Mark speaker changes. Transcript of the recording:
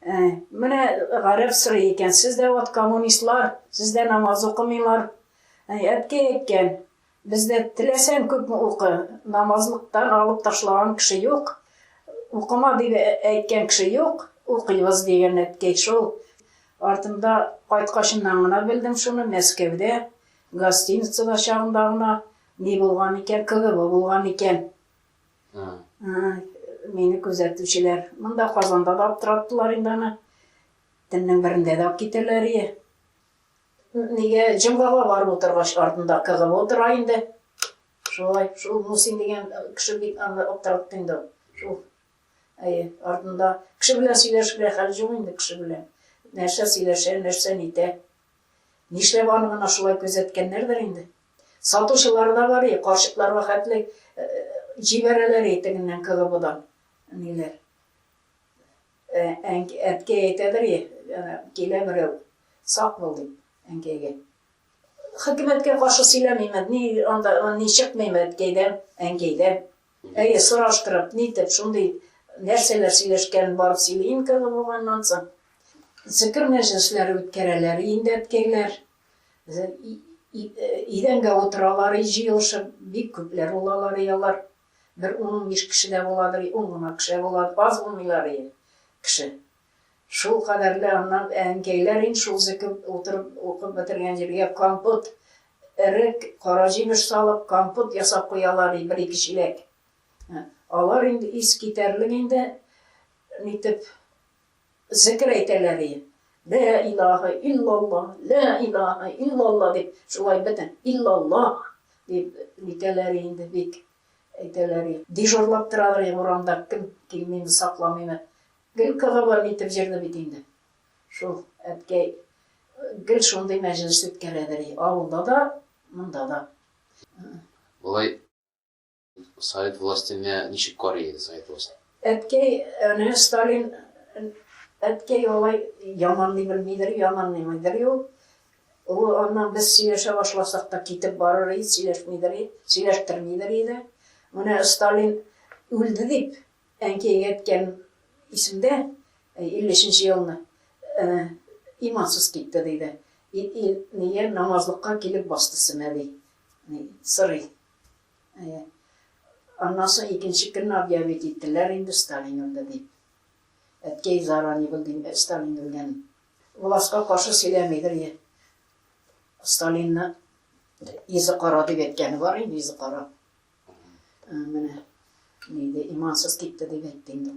Speaker 1: Ә, менә гарәп сорый икән, сез дә вот коммунистлар, сез дә намаз укымыйлар. Ә, әткәй әйткән, бездә теләсәң күпме укы, намазлыктан алып ташлаган кеше юк, укыма дип әйткән кеше юк, укыйбыз дигән әткәй шул. Артымда кайткачыннан гына белдем шуны, Мәскәүдә, гостиницада чагында гына ни булган икән, КГБ булган икән. Мине күзәтүчеләр монда Казанда да аптыраттылар инде аны. Төннең берендә дә алып китәләр ие. Нигә җомгага барып утыргач артында кыгып утыра инде. Шулай, шул Мусин дигән кеше бит аны аптыратты инде. Шул әйе, артында кеше белән сөйләшергә хәл юк инде кеше белән. Нәрсә сөйләшә, нәрсә нитә. Нишләп аны гына шулай күзәткәннәрдер инде. Сатучылар да бар и, карчыклар вәхәтле җибәрәләр и, тегеннән КГБдан ниләр. Әткәй әйтәдер и, килә берәү, сак бул дип, әнкәйгә. Хөкүмәткә каршы сөйләмим, ни анда, ни чыкмыйм әткәйдән, әнкәйдән. Әйе, сораштырып, нитеп, шундый нәрсәләр сөйләшкәнен барып сөйлим КГБганнан соң. Зикер мәҗлесләре үткәрәләр инде әткәйләр, Идәнгә утыралар, җыелышып, бик күпләр булалар и алар. Бер ун-унбиш кеше дә буладыр и, ун гына кеше дә була, аз булмыйлар и кеше. Шул кадәрле аннан әнкәйләр инде шул зекеп утырып, укып бетергән җиргә компот, эрек, кара җимеш салып, компот ясап куялар и, бер-ике чиләк. Алар инде искитәрлек инде, нитеп, Зекер әйтәләр иде. Лә илаһа иллалла, лә илаһа иллалла дип, шулай бөтен иллаллаһ дип нитәләр иде инде, бик әйтәләр иде. Дежурлап торалар иде урамда, кем килмиме, сакламыймы. Гел кыгыбы нитеп җөрде бит инде шул әткәй. Гел шундый мәҗлес үткәрәдер иде, авылда да, монда да.
Speaker 2: Болай. Совет властене ничек карый иде Совет власте? Әткәй,
Speaker 1: әнә Сталин, әткәй алай яманлый белмидер, яманлыймыйдыр юк. Ул аннан без сөйләшә башласак та китеп барыр иде, сөйләшмидер иде, сөйләштермидер иде. Менә Сталин үлде дип, әнкәйгә әйткән исемдә, 53 елны имансыз китте диде. Ит, ит, нигә намазлыкка килеп басты сенә ди. Сырый. Аннан соң икенче көнне объявить иттеләр инде, Сталин үлде дип. Әткәй зара, ни булды инде, Сталин үлгән. Властька каршы сөйләмидер, Сталинны йөзе кара дип әйткәне бар инде, йөзе кара. Менә, диде, имансыз китте дип әйтте инде.